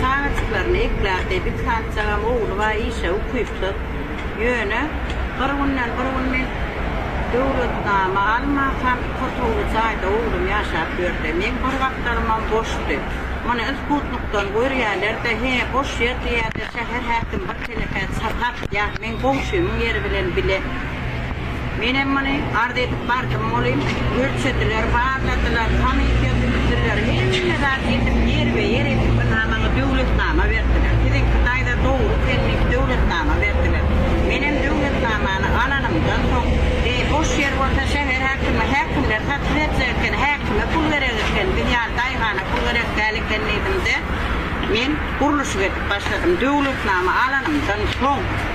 Çagajyklaryny ekläpdi. Bir çagajygam ogly bar, işe ukypsyz. Ýöne bir günden bir gün men döwletnama almansam, kotowly jaýda oglum ýaşap ýördi. Meň bir gapdalymam boşdy. Muny Isputnikden görýärler-de, hä, boş ýer diýýärler, şäher häkim bir telekä çatar, ýa meň goňşymyň ýeri bilen bile. Menem muny arz edip bardym welin, ölçediler, barladylar, komissiýa düzüpdirler, hemme zat edip, ýerbe-ýer edip, ynha maňa döwletnama berdiler. Siziňki daýza dogry selnik döwletnama berdiler. Menem döwletnamany alanymdan soň, Be, boş ýer bolsa şäher häkimi, häkimler satyn berjek eken, häkime pul gerek eken, biz ýaly daýhana pul gerek däl eken diýdim-de, men gurluşyk edip başladym. Döwletnama alanymdan soň.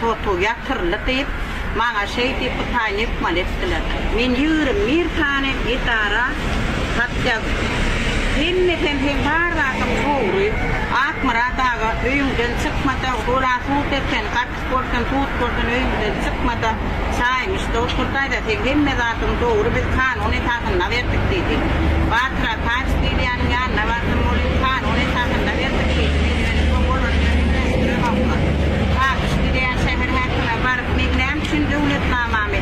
Soto ýatyryldy diýip, maňa şeýdip hytaý mehmal etdiler. Men ýigrimi bir sany edara hat ýazdym. Hemmesem seň bar zadyň dogry, Akmyrat aga, öýüňden çykma-da, bolan sud eken, gatyk bolsun, sud bolsun, öýüňden çykma-da, çaýmyşda otur-daýza, seň hemme zadyň dogry, biz kanun esasynda berdik diýdi. Batyr. Taçyk Liliýanyň ýanyna bardym, ol indi kanun esasynda berdik diýdi, men ýöne soň olar bilen üýtgeşdiremoklar. Taçyk Liliýa şäher häkime baryp, meň näme üçin döwletnamamy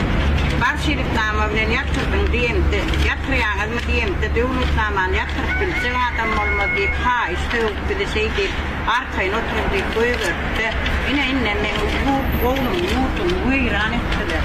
bar şeritnama bilen ýatyrdyň diýemde, ýatyrýaňyzmy diýemde, döwletnamany ýatyryp biljek adam bolmaz diýip, haýyş sögüp, bizi şeý diýip, arkaýyn oturyň diýip goýberdi-de, ine, indem meň ýurt gownum, ýurdumy weýran etdiler.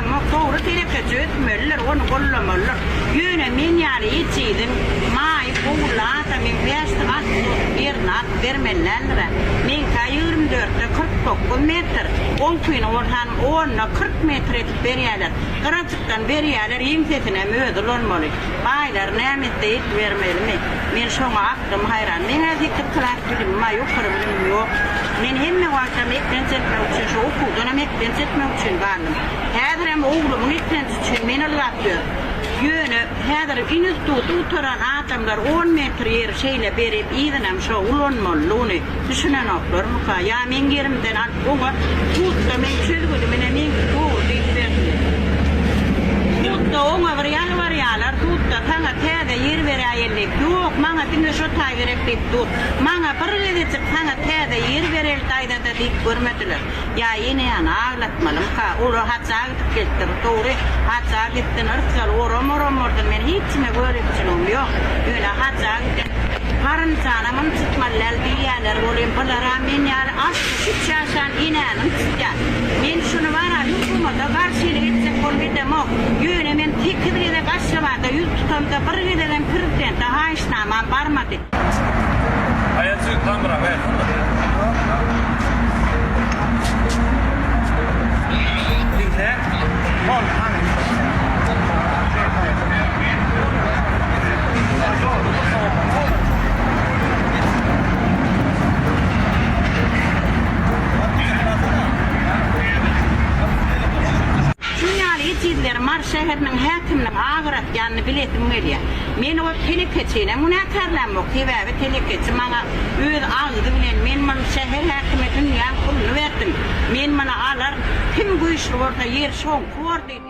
Muňa dogry hereketi ötmeliler, ony gollamalylar. Ýöne men ýaly etiziň, maýyp, ogully ata meň bäşlik at bolup ýerini alyp bermeli däldir-ä. Meňkä ýigrimi dörtde kyrk dokuz metr, oňkyny bolsan onda kyrk metr edip berýäler. Gyrajykdan berýäler, ýeňsesinem özi ulanmaly. Baýlar näme etse edibermelimi? Men şoňa Dym haýran. Meň-ä sekiz klas bilimim bar, ýokary bilimim ýok. Men hemme wagtam eklenç etmek üçin, şu okuwdanam eklenç etmek üçin bardym. Häzirem oglumyň eklenji üçin men ylgap ýörün. Ýöne, häzir instituty gutaran adamlar on metr ýeri şeýle berip, yzynam şo ulanmalydygyny, Düşünenoklarmyka? Ýa meň ýerimden alyp oňa Hut-da meň çözgüdim ine meňki dogry diýip bersin. Hut-da oňa bir ýalbarýalar, Hut-da saňa täze ýer beräýeli diýip. Ýok, maňa diňe şo taý gerek diýip dur. Maňa bir gezejik saňa täze ýer bereli daýzada diýip görmediler. Ýa ene ýany aglatmalymyka? Olar hajja gidip gelipdir. Dogry, hajja gitsin, yrsaly oram oram bolsa men hiç kime gözegçiligim ýok. Ýöne hajja giden garynjanam ynjytmaly däl diýýäler, ol hem bizaram men ýaly altmyş üç ýaşan enäni ynjytýar. Men şuny bara hökümete garşylyk etjek bolup edemok. Ýöne men sekiz gezek Aşgabada ýüz tutamda bir gezegem prezidente haýyşnamam barmady. Şuň ýaly ejizleri Mary şäheriniň häkiminiň agyr atýanyny bilesim gelýär. Men ol telekeçini günäkärlämok, sebäbi telekeçi maňa öz agzy bilen, men muny şäher häkime dünýäň puluny berdim, men muny alar, kim güýçli bolsa ýer şoňky bor diýdi.